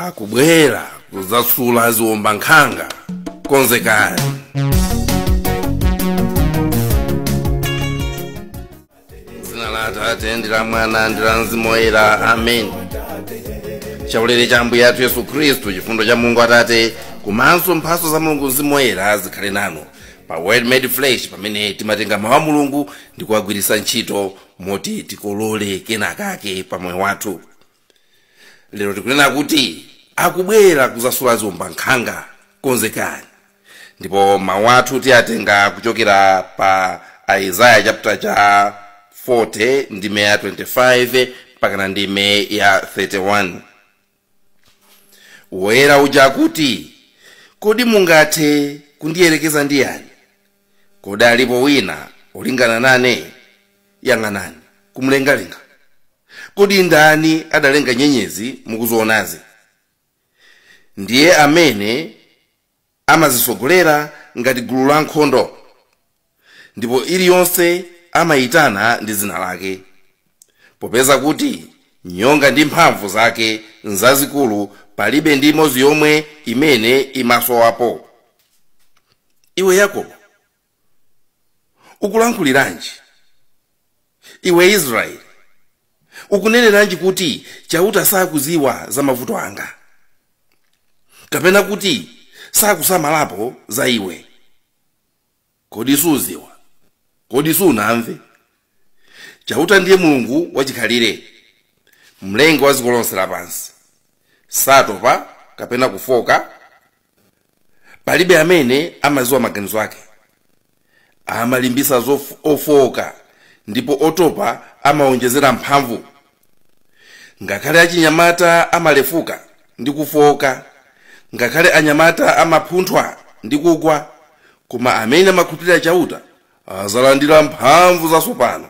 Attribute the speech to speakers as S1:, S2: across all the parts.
S1: akubwera kudzasula ziwombankhanga konzekani dzina la atate ndi la mwana ndi la mzimu woyera amen chaulere cha ambuye athu yesu khristu chifundo cha mulungu atate komanso mphatso za mulungu mzimu woyera zikhale nanu pa word made flesh pamene timatenga mawu a mulungu ndi kuwagwiritsa ntchito moti tikolole kenakake pa moyo wathu lero tikunena kuti akubwera kuzasula ziwombankhanga konzekani ndipo mawu athu tiyatenga kuchokera pa aizaya chapter cha 40 ndime ya 25 mpakana ndime ya 31 woyera uja akuti kodi mungathe kundiyerekeza ndi yani kodi alipo wina olingana nane yang'anani kumlengalenga kodi ndani adalenga nyenyezi mukuzionazi ndiye amene amazitsogolera ngati gulu la nkhondo ndipo iliyonse amayitana ndi dzina lake popeza kuti nyonga ndi mphamvu zake nzazikulu palibe ndi imodzi yomwe imene imasowapo iwe yakobo ukulankhuliranji iwe israeli ukuneneranji kuti chauta sakuziwa za mavuto anga kapena kuti sakusamalapo za iwe Kodi suziwa? Kodi sunamve? Chauta ndiye Mulungu wachikhalire, mlengi wa dziko lonse lapansi. Satopa kapena kufoka. Palibe amene amadziwa maganizo ake. Amalimbitsa ofooka, ndipo otopa amawaonjezera mphamvu. ngakhale achinyamata amalefuka ndi kufooka ngakhale anyamata amaphunthwa ndi kugwa koma amene amakhulupirira chauta azalandira mphamvu zatsopano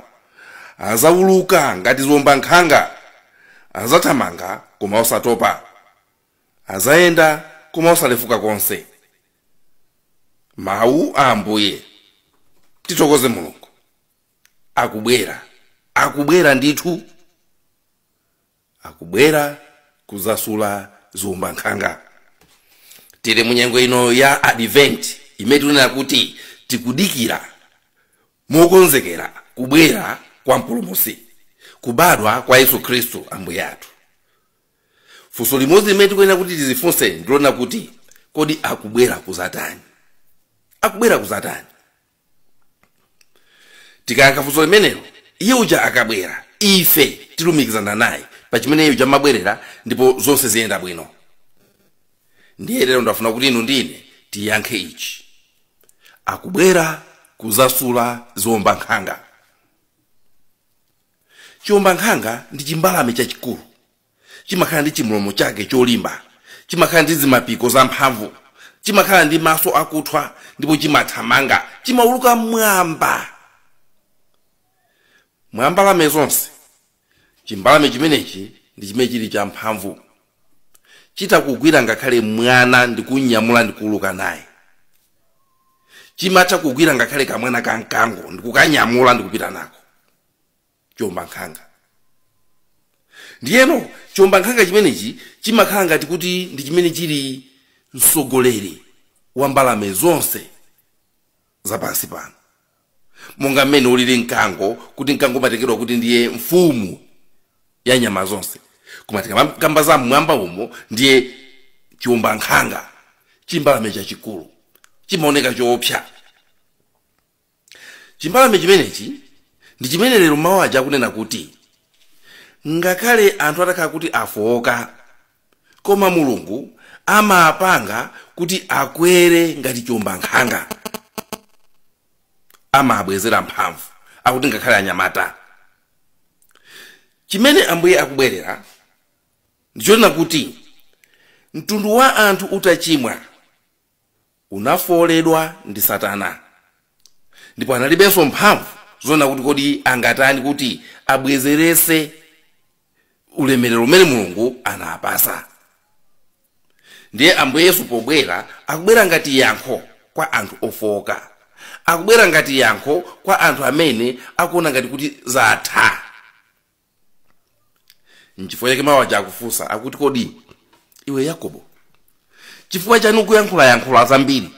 S1: azawuluka ngati ziwombankhanga azathamanga koma osatopa azayenda koma osalefuka konse mawu a ambuye tithokoze mulungu akubwera akubwera ndithu akubwera kuzasula ziwombankhanga tili munyengo ino ya advent imene tikunena kuti tikudikira mokonzekera kubwera kwa mpulumutsi kubadwa kwa yesu khristu ambuye athu funso limodzi limene tikuyenera kuti tizifunse ndi lonena kuti kodi akubwera kuzatani akubwera kuzatani tikayankha funso limenelo iye uja akabwera ife tilumikizana naye pa chimene iye uja amabwerera ndipo zonse ziyenda bwino ndiye lero ndafuna kuti inu ndi ine tiyankhe ichi akubwera kuzasula ziombankhanga chiombankhanga ndi chimbalame chachikulu chimakhala ndi chimlomo chake cholimba chimakhala ndi zimapiko zamphamvu chimakhala ndi maso akuthwa ndipo chimathamanga chimauluka mmwamba mwa mbalame zonse chimbalame chimenechi ndi chimene chili champhamvu chitha kugwira ngakhale mwana ndikunyamula ndikuuluka naye chimatha kugwira ngakhale kamwana ka mkango ndikukanyamula ndikupita nako chiombankhanga ndiyeno chiombankhanga chimenechi chimakhala ngati kuti ndi chimene chili mtsogoleri wa mbalame zonse zapansi pano monga mmene ulili mkango kuti mkango umatengedwa kuti ndiye mfumu ya nyama zonse koma tikakamba za mmwamba umo ndiye chiombankhanga chimbalame chachikulu chimaoneka choopsa chimbalame chimenechi ndi chimene lero mawu aja akunena kuti ngakhale anthu atakhala kuti afooka koma mulungu amapanga kuti akwere ngati chiombankhanga amabwezera mphamvu akuti ngakhale anyamata chimene ambuye akubwerera ndichonena kuti mtundu wa anthu utachimwa unafooledwa ndi Satana ndipo analibenso mphamvu zoona kuti kodi angatani kuti abwezeretse ulemerero umene mulungu anawapasa ndiye ambuye yesu pobwera akubwera ngati yankho kwa anthu ofooka akubwera ngati yankho kwa anthu amene akuona ngati kuti zatha nchifukwa chake mawu aja akufunsa akuti kodi iwe yakobo chifukwa chani ukuyankhulayankhula zambiri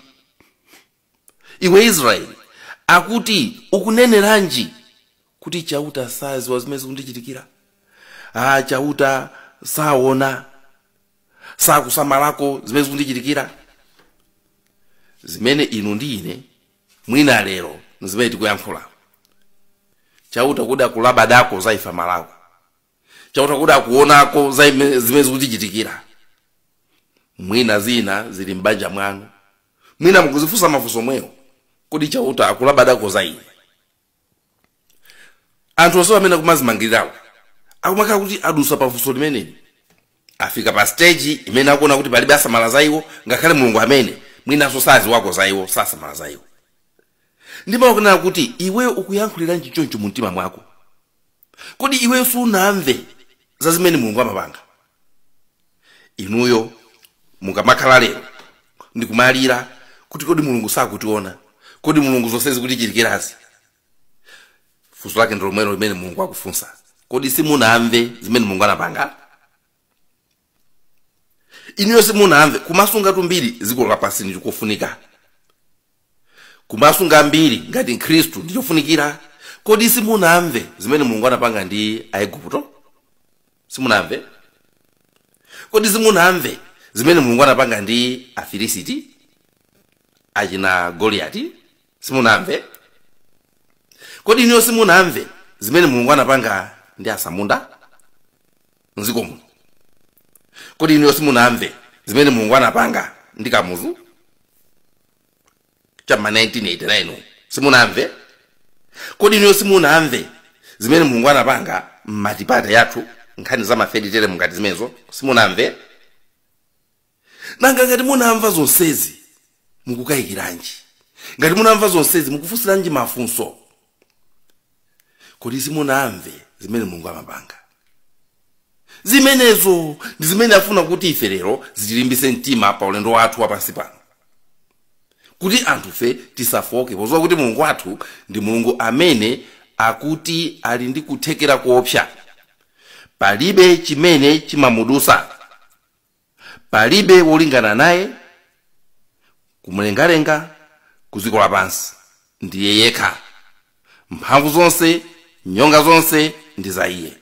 S1: iwe israeli akuti ukuneneranji kuti chauta saziwa zimene zikundichitikira ah chauta saona sakusamalako zimene zikundichitikira zimene inu ndi ine mwina lero ndi zimene tikuyankhula chauta kodi akulabadako za ife malako chauta kodi akuonako za ime- zimene zikutichitikira mwina zina zili m'banja mwanu mwina mukuzifunsa mafunso mwewo kodi chauta akulabadako za ine anthu onse amene akumazimangirirawo akumakhala kuti adusa pafunso limeneli afika pa stage imene akuona kuti palibe asamala za iwo ngakhale mulungu amene mwinanso sadziwako za iwo sasamala za iwo ndiye akunena kuti iwe ukuyankhuliranji choncho mu mtima mwako kodi iweyo sunamve za zimene mulungu amapanga inuyo mukamakhala lero ndikumalira kuti kodi mulungu sakutiona kodi mulungu zonse zikutichitikirazi funso lake ndi lomwelo limene mulungu akufunsa kodi simunamve zimene mulungu anapanga inuyo simunamve kumasungatu mbiri dziko lapansi ndi kofunika kumasunga mbiri ngati mkhristu ndi chofunikira kodi simunamve zimene mulungu anapanga ndi aigupto simunamve kodi simunamve zimene mulungu anapanga ndi afilisiti achina goliyati simunamve kodi inuyo simunamve zimene mulungu anapanga ndi asamunda mdziko muno kodi inuyo simunamve zimene mulungu anapanga ndi kamuzu chamma 1989 umu? simunamve kodi inuyo simunamve zimene mulungu anapanga m'matipati yathu nkhani za mafeditere mungati zimenezo simunamve nanga ngati munamva zonsezi mukukayikiranji ngati munamva zonsezi mukufunsiranji mafunso kodi simunamve zimene mulungu amapanga zimenezo ndi zimene afuna kuti ife lero zitilimbise mtima pa ulendo wathu wapansi pano kuti anthufe tisafooke podziwa kuti mulungu wathu ndi mulungu amene akuti ali ndi kuthekera kuopsa palibe chimene chimamudusa palibe wolingana naye kumulengalenga ku dziko lapansi ndiye yekha mphamvu zonse nyonga zonse ndi za iye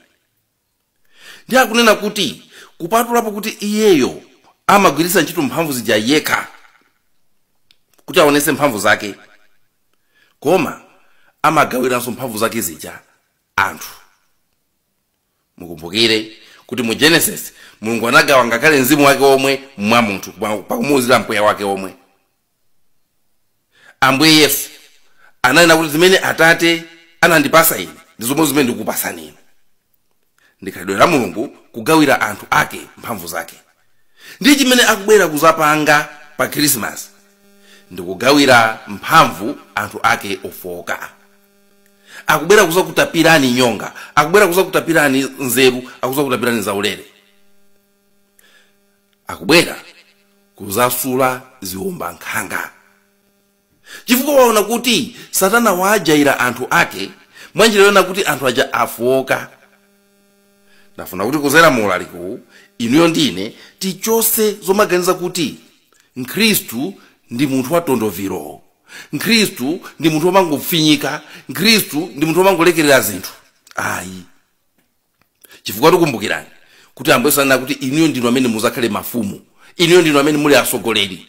S1: ndiye akunena kuti kupatulapo kuti iyeyo amagwiritsa ntchito mphamvu zija yekha kuti aonetse mphamvu zake koma amagawiranso mphamvu zake zija anthu mukumbukire kuti mu genesis mulungu anagawa ngakhale mzimu wake womwe mwa munthu pakumuwuzira mpweya wake womwe ambuye yesu ananena kuti zimene atate anandipatsa ine ndi zomwe zimene ndikupatsani inu ndikhalidwe la mulungu kugawira anthu ake mphamvu zake ndi chimene akubwera kudzapanga pa khrisimasi ndikugawira mphamvu anthu ake ofowoka akubwera kuzakutapirani nyonga akubwera kuzakutapirani nzeru akuzakutapirani zaulere akubwera kuzasula ziwombankhanga chifukwa waona kuti satana wajaira anthu ake mwanjira yonena kuti anthu aja afoka ndafuna kuti kuzera mu ulaliki uwu inuyo ndi ine tichose zomaganiza kuti mkhristu ndi munthu wa tondoviro mkhristu ndi munthu womangofinyika mkhristu ndi munthu womangolekerera zinthu ayi chifukwa takumbukirani kuti ambuye ananena kuti inuyo ndinu amene muzakhale mafumu inuyo ndinu amene muli atsogoleri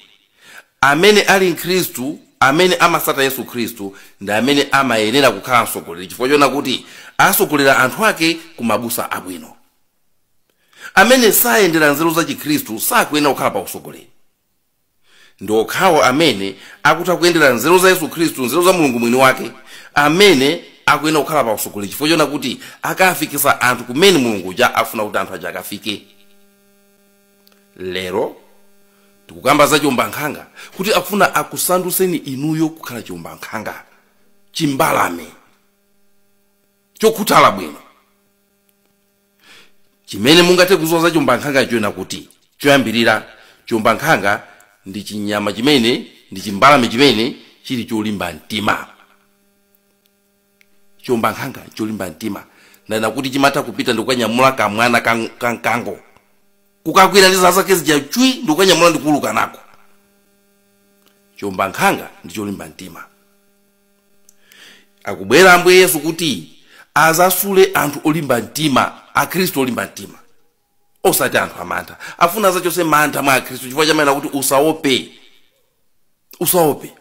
S1: Amene ali Mkristu, amene amatsata Yesu Khristu, ndi amene amayenera kukhala mtsogoleri chifukwa choona kuti atsogolera anthu ake ku mabusa abwino. Amene sayendera nzeru za Chikhristu sakuyenera kukhala pa utsogoleri. Ndi okhawo amene akutha kuyendera nzeru za Yesu Khristu, nzeru za Mulungu mwini wake, amene akuyenera kukhala pa utsogoleri chifukwa choona kuti akafikitsa anthu kumene Mulungu uja afuna kuti anthu aja akafike. lero tikukamba za chiwombankhanga kuti akufuna akusandutseni inuyo kukhala chiwombankhanga chimbalame chokhuthala bwino chimene mungathe kudziwa za chiwombankhanga chonena kuti choyambirira chiwombankhanga ndi chinyama chimene ndi chimbalame chimene chili cholimba mtima chiombankhanga cholimba mtima monena kuti chimatha kupita ndikukanyamula kamwana kang- ka mkango kukagwira ndi zala zake zija chwi ndikukanyamula ndikuuluka nako chiombankhanga ndi cholimba mtima akubwera ambuye yesu kuti azasule anthu olimba mtima akhristu olimba mtima osati anthu amantha afuna azachose mantha mwa akhristu chifukwa amanena kuti usaope usaope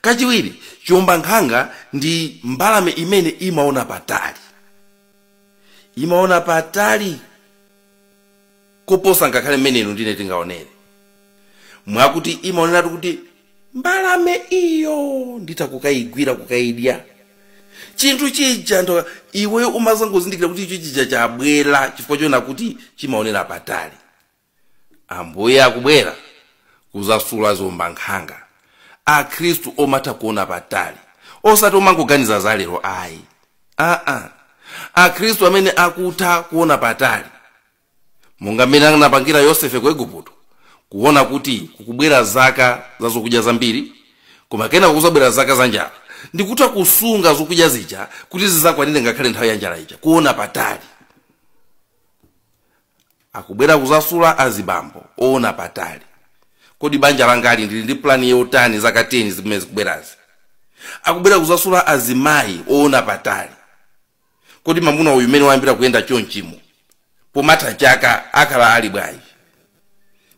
S1: kachiwiri chiwombankhanga ndi mbalame imene imaona patali imaona patali koposa ngakhale mmene inu ndine tingaonere mwakuti imaoneratu kuti mbalame iyo nditha kukayigwira kukayidya chinthu chija ndipo iwe umazangozindikira kuti icho chija chabwera chifukwa choona kuti chimaonera patali ambuye akubwera kuzasula ziombankhanga akhristu omatha kuona patali osati omangoganiza za lero ayi akhristu amene akutha kuona patali monga mmene anapangira yosefe ku igupto kuona kuti kukubwera zaka za zokudya zambiri koma kenako kuzabwera zaka za njala ndikutha kusunga zokudya zija kuti zizakwanire ngakhale nthawi ya njala ija kuona patali akubwera kuzasula azibambo oona patali kodi banja langali ndili ndi plani yotani zaka 10 zimene zikubwerazi akubwera kuzasula azimayi oona patali kodi mamuna uyu mmene wayambira kuyenda chonchimo pomatha chaka akhala ali bwanji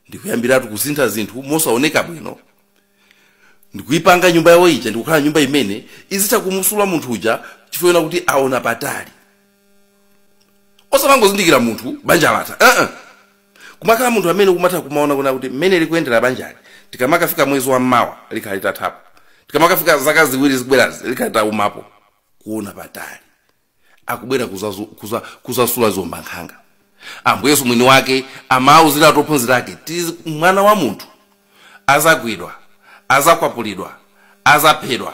S1: ndikuyambiratu kusintha zinthu mosaoneka bwino ndikuyipanga nyumba yawo ija ndikukhala nyumba imene izitha kumusula munthu uja chifukwa kuti aona patali osamangozindikira munthu banja latha uh -uh. kumakhala munthu amene kumatha kumaona kuna kuti mmene likuyendera banjali tikamakafika mwezi wa mmawa likhala litathapo tikamakafika zaka ziwiri zikubwerazi likhala litaumapo kuona patali akubwera kuzazu- kuza- kuzasula ziombankhanga ambuye yesu mwini wake amauziratu ophunzira ake kuti mwana wa munthu azagwidwa azakwapulidwa azaphedwa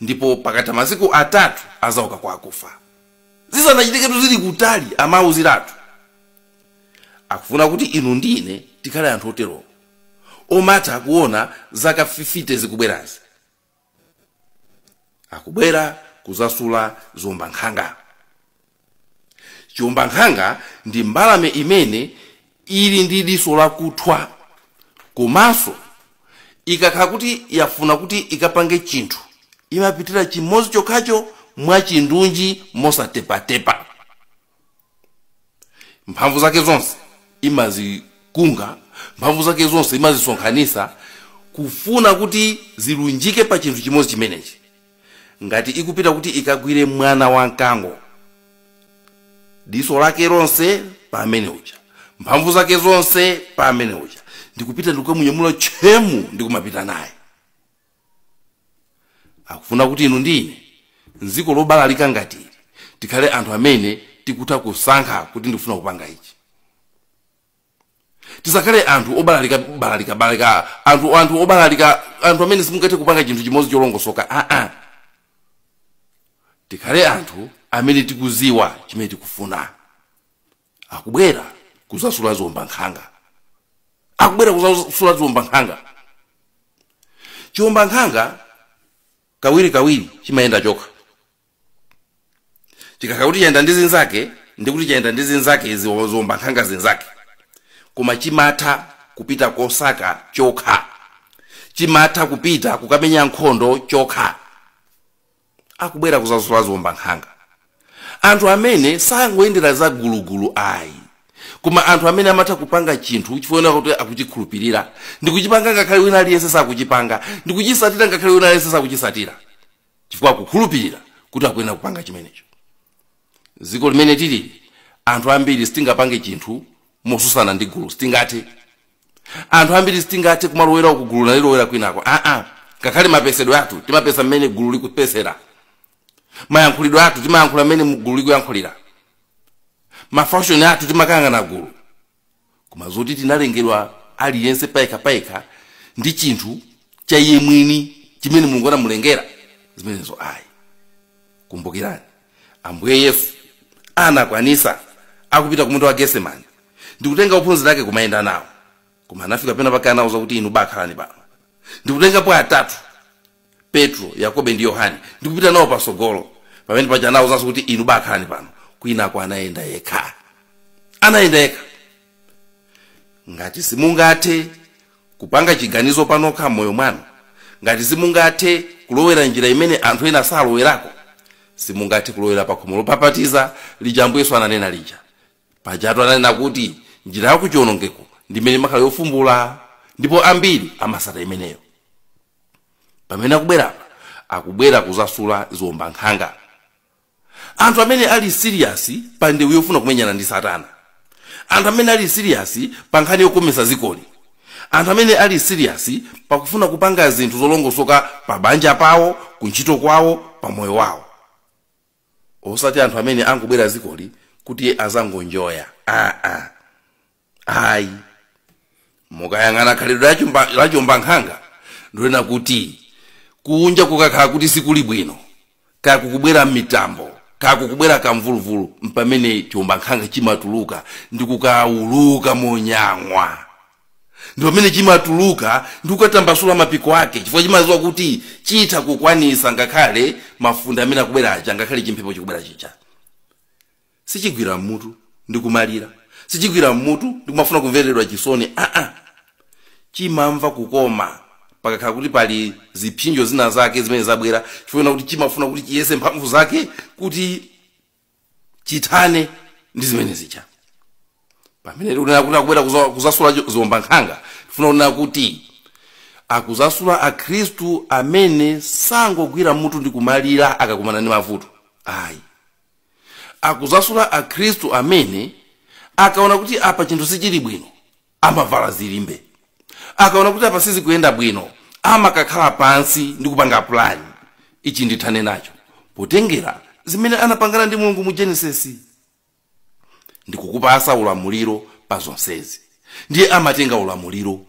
S1: ndipo pakatha masiku atatu azauka kwa akufa zisanachitiketu zili kutali amauziratu akufuna kuti inu ndi ine tikhale anthu oterowo omatha kuona zaka 50 zikubwerazi akubwera kuzasula ziombankhanga chiombankhanga ndi mbalame imene ili ndi diso lakuthwa komanso ikakhala kuti yafuna kuti ikapange chinthu imapitira chimodzi chokhacho mwachindunji mosatepatepa mphamvu zake zonse imazikunga mphamvu zake zonse imazisonkhanisa kufuna kuti zilunjike pa chinthu chimodzi chimenechi ngati ikupita kuti ikagwire mwana wa mkango diso lake lonse pa amene uja mphamvu zake zonse pa amene uja ndikupita ndikukamunyamula tchemu ndikumapita naye akufuna kuti inu ndi ine mdziko lobalalika ngati ili tikhale anthu amene tikutha kusankha kuti ndikufuna kupanga ichi tisakhale anthu obalalika balalika balalika anthu anthu obalalika anthu amene sitingathe kupanga chinthu chimodzi cholongosoka aa tikhale anthu amene tikuziwa chimene tikufuna akubwera kuzasula ziombankhanga akubwera kuzasula ziombankhanga chiombankhanga kawirikawiri chimayenda chokha chikakhala kuti chayenda ndi zinzake ndi kuti chayenda ndi zinzake zi- ziombankhanga zinzake koma chimatha kupita kosaka chokha chimatha kupita kukamenya nkhondo chokha akubwera kuzasula ziombankhanga anthu amene sangoyendera za gulugulu ayi koma anthu amene amatha kupanga chinthu chifukwa kuti akuchikhulupirira ndikuchipanga ngakhale wina aliyense sakuchipanga ndikuchisatira ngakhale wina aliyense sakuchisatira chifukwa akukhulupirira kuti akuyenera kupanga chimenecho dziko limene tili anthu ambiri sitingapange chinthu mosusana ndi gulu sitingathe anthu ambiri sitingathe kumalowera uku gulu nalilowera kwinako aa ngakhale mapesedwe athu timapesa mmene gulu likupesera mayankhulidwe athu timayankhula mmene mu- gulu likuyankhulira mafashoni athu timakangana gulu koma zoti tinalengedwa aliyense payekha payekha ndi chinthu cha iye mwini chimene mulungu anamulengera zimenezo ayi kumbukirani ambuye yesu anakwanisa akupita ku munda wa getsemani ndikutenga ophunzira ake kumayenda nawo koma anafika pena pake anauza kuti inu bakhalani pano ndikutengapo atatu petro yakobo ndi yohane ndi kupita nawo patsogolo pamene paja anawuzanso kuti inu bakhalani pano kwinako anayenda yekha anayenda yekha ngati simungathe kupanga chiganizo panokha m'moyo mwanu ngati simungathe kulowera njira imene anthu ena salowerako simungathe kulowera pakhomo lopapatiza lija ambuye yesu ananena lija pajatu ananena kuti njira yakuchiwonongeko ndi imene imakhala yofumbula ndipo ambiri amasata imeneyo pamene akubwera apa akubwera kuzasula ziwombankhanga anthu amene ali siriyasi pa ndewu yofuna kumenyana ndi satana anthu amene ali siriyasi pa nkhani yokomesa zikoli anthu amene ali siriyasi pakufuna kupanga zinthu zolongosoka pa banja pawo ku ntchito kwawo pa moyo wawo osati anthu amene angubwera zikoli kuti azangonjoya aa ayi mukayang'ana khalidwe la chumba- la chiwombankhanga ndilonena kuti kunja kukakhala kuti sikuli bwino kaya kukubwera mitambo kaya kukubwera kamvuluvulu mpamene chiwombankhanga chimatuluka ndi kukawuluka monyang'wa ndi pamene chimatuluka ndi kukatambasula mapiko ake chifukwa chimaziwa kuti chitha kukwanisa ngakhale mafunde amene akubwera aja ngakhale chimphepo chikubwera chija sichigwira mmutu ndi kumalira sichigwira mmutu ndi kumafuna kumveredwa chisoni aa chimamva kukoma pakakhala kuti pali zipsinjo zina zake zimene zabwera chifukwa kuti chimafuna kuti chiyese mphamvu zake kuti chithane ndi zimene zija pamene tikunena kuti akubwera kuza- kuzasula cho- ziwombankhanga tifuna kunena kuti akuzasula akhristu amene sangogwira mmutu ndi kumalira akakumana ndi mavuto ayi akuzasula akhristu amene akaona kuti apa chinthu sichili bwino amavala zilimbe akaona kuti apa sizikuyenda bwino amakakhala pansi ndi kupanga pulani ichi ndithane nacho potengera zimene anapangana ndi mulungu mu genesis ndikukupasa ulamuliro pa zonsezi ndiye amatenga ulamuliro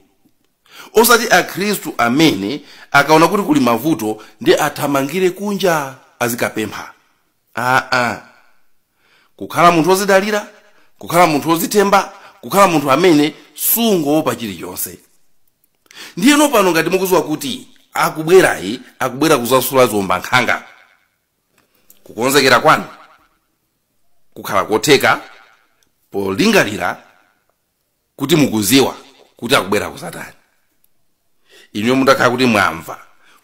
S1: osati akhristu amene akaona kuti kuli mavuto ndiye athamangire kunja azikapempha aa kukhala munthu wozidalira kukhala munthu wozithemba kukhala munthu amene sungowopa chilichonse ndiye inu pano ngati mukuziwa kuti akubwerayi akubwera kuzasula ziombankhanga kukonzekera kwanu kukhala kotheka polingalira kuti mukuziwa kuti akubwera kuzatani inuyo mutakhala kuti mwamva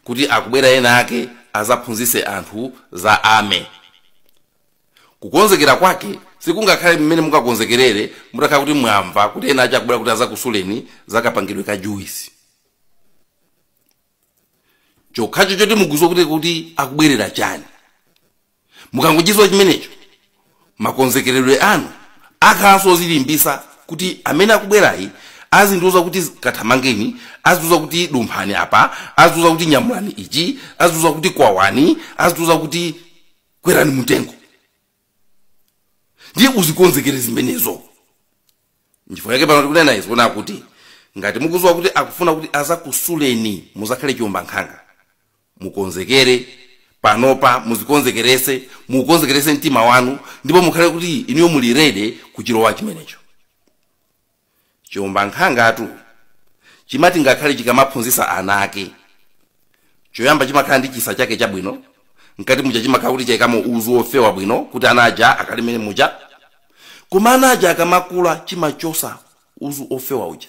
S1: kuti akubwera ena ake azaphunzise anthu za ame kukonzekera kwake sikungakhale mmene mungakonzekerere mutakhala kuti mwamva kuti ena ake akubwera kuti azakusuleni zakapangidwe ka juice chokhacho choti mukuziwa kuti akubwerera chani mukangochiziwa chimenecho makonzekeredwe anu akhalanso ozilimbisa kuti amene akubwerayi azindiuza kuti kathamangeni azindiuza kuti dumphani apa azindiuza kuti nyamulani ichi azindiuza kuti kwawani azindiuza kuti kwerani mutengo ndiye uzikonzekere zimenezo nchifukwa yake pano tikunena izi kuona kuti ngati mukuziwa kuti akufuna kuti azakusuleni muzakhale chiombankhanga mukonzekere panopa muzikonzekerese mukonzekerese mtima wanu ndipo mukhale kuti inuyo muli ready kuchilowa chimenecho chiombankhangatu chimati ngakhale chikamaphunzisa ana ake choyamba chimakhala ndi chisa chake chabwino mkati muja chimakhala kuti chaikamo uzu wofewa bwino kuti ana aja akalimene muja koma ana aja akamakula chimachosa uzu ofewa uja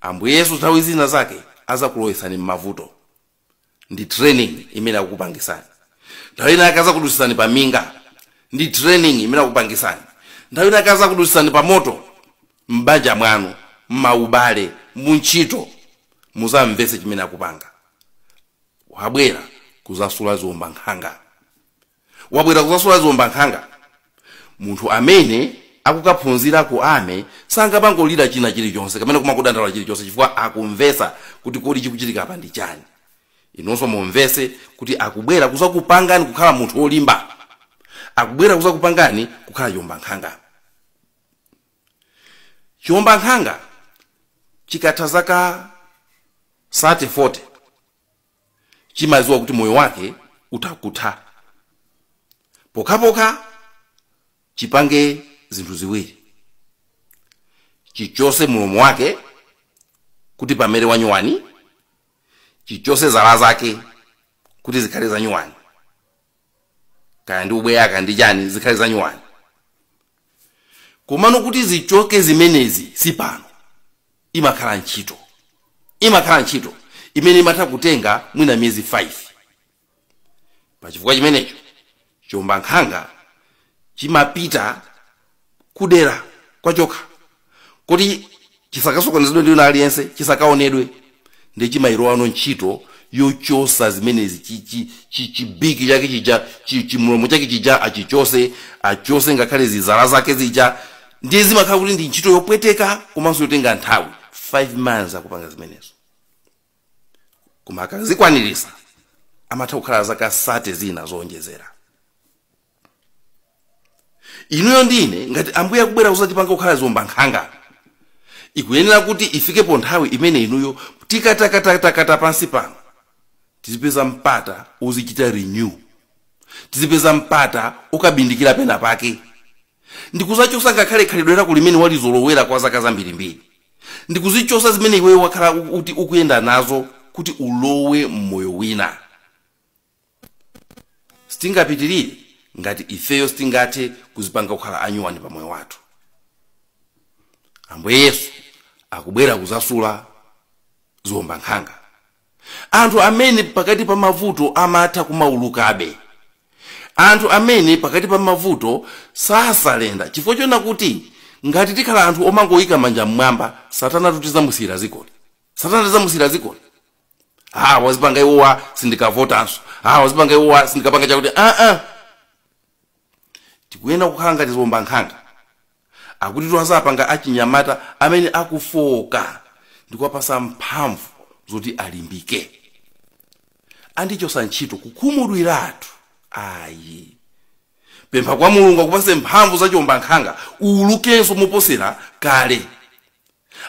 S1: ambuye yesu nthawi zina zake azakulowesani m'mavuto ndi training imene akukupangisani nthawi ina yake azakudusisani pa minga ndi training imene akukupangisani nthawi ina yake azakudusisani pa moto m'banja mwanu m'maubale muntchito muzamvese chimene akupanga wabwera kuzasula ziombankhanga wabwera kuzasula ziombankhanga munthu amene akukaphunzira ku ame sangamangolira china chilichonse kapena kumakadandaula chilichonse chifukwa akumvesa kuti kodi chikuchitika apa ndi chani inunso mumvese kuti akubwera kuzakupangani kukhala munthu wolimba akubwera kuzakupangani kukhala chiombankhanga chiombankhanga chikatha zaka 30 40 chimadziwa kuti moyo wake utakutha pokhapokha chipange zinthu ziwiri chichose mulomo wake kuti pamere wanyuwani chichose zala zake kuti zikhale zanyuwani kaya ndi ubweya kaya ndi chani zikhale zanyuwani komano kuti zichoke zimenezi si pano imakhala ntchito imakhala ntchito imene imatha kutenga mwina miyezi 5 pachifukwa chimenecho chiombankhanga chimapita kudera kwachokha kuti chisakasokonezedwe ndi wina aliyense chisakaonedwe ndi chimailowano ntchito yochosa zimenezi chi- chi- chi- chibiki chake chija chi- chimulomo chake chija achichose achose ngakhale zizala zake zija ndiye zimakhala kuti ndi ntchito yopweteka komanso yotenga nthawi 5 months akupanga zimenezo koma akazikwanirisa amatha kukhala zaka 30 zina zoonjezera inuyo ndine ngati ambuye akubwera kuzatipanga kukhala ziwombankhanga ikuyenera kuti ifikepo nthawi imene inuyo tikatakatakata pansi pano tizipeza mpata ozichita renew tizipeza mpata okabindikira pena pake ndikuzachosa ngakhale khalidwe lako limene walizolowera kwa zaka zambirimbiri ndikuzichosa zimene iweyo wakhala u- uti ukuyenda nazo kuti ulowe mmoyo wina sitingapitirire ngati ifeyo sitingathe kuzipanga kukhala anyuwani pa moyo wathu ambuye yesu akubwera kuzasula ziwombankhanga anthu amene pakati pa mavuto amatha kumaulukabe anthu amene pakati pa mavuto sasalenda chifukwa choona kuti ngati tikhala anthu omangoyika manja mmwamba satana tizamusiyira dzikoli satana tizamusiyira dzikoli ha wazipanga iwowa sindikavotanso ha wazipanga iwowa sindikapanga chakuti aa tikuyenera kukhala ngati ziwombankhanga akuti tiwazapanga achinyamata amene akufooka ndikuwapasa mphamvu zoti alimbike andichosa ntchito kukhumudwiratu ayi pempha kwa mulungu akupase mphamvu za chiwombankhanga uwulukenso moposera kale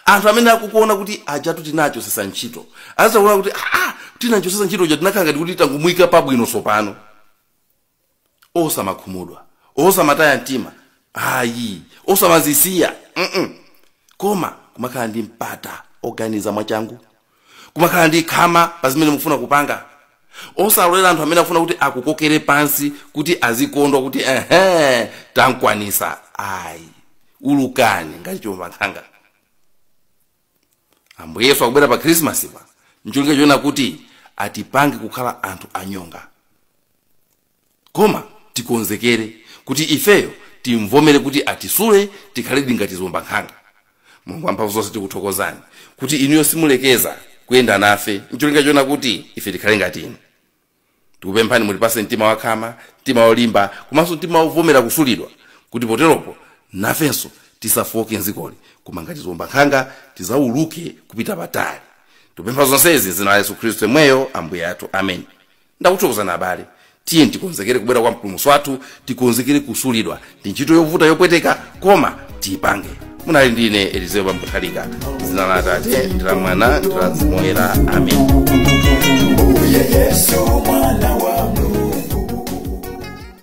S1: anthu amene akukuona kuti ajatu tinachosesa ntchito azakuona kuti aa tinachosesa ntchito uja tinakhala ngati kuti tangomuyika pabwino tsopano osamakhumudwa osamataya mtima ayi osamazisiya mm koma kumakhala ndi mpata oganiza mwachangu kumakhala ndi khama pa zimene mukufuna kupanga osalolera anthu amene akufuna kuti akukokere pansi kuti azikondwa kuti ehe tamkwanisa ayi ulukani ngati chiwombankhanga ambuye yesu akubwera pa khrisimasi pa ncholinga choona kuti atipange kukhala anthu anyonga koma tikonzekere kuti ifeyo timvomere kuti atisule tikhaledi ngati ziwombankhanga. Mulungu wamphamvu zonse tikuthokozani kuti inuyo simulekeza kuyenda nafe n'cholinga choona kuti ife tikhale ngati inu. Tikupemphani mutipatse mtima wakhama, mtima wolimba komanso mtima wovomera kusulidwa kuti poteropo nafenso tisafooke m'dzikoli koma ngati ziwombankhanga tidzauluke kupita patali. Tikupempha zonsezi m'dzina la Yesu Khristu yemweyo Ambuye athu. Ameni. Ndakuthokozani abale. Tiyeni tikonzekere kubwera kwa Mpulumutsi wathu, tikonzekere kusulidwa. Ndi ntchito yovuta yopweteka, koma tiyipange. Munali ndi ine Elizeo Bambo Nthalika, dzina la Atate ndi la Mwana ndi la Mzimu Woyera. Amen. Mbuye Yesu mwana wa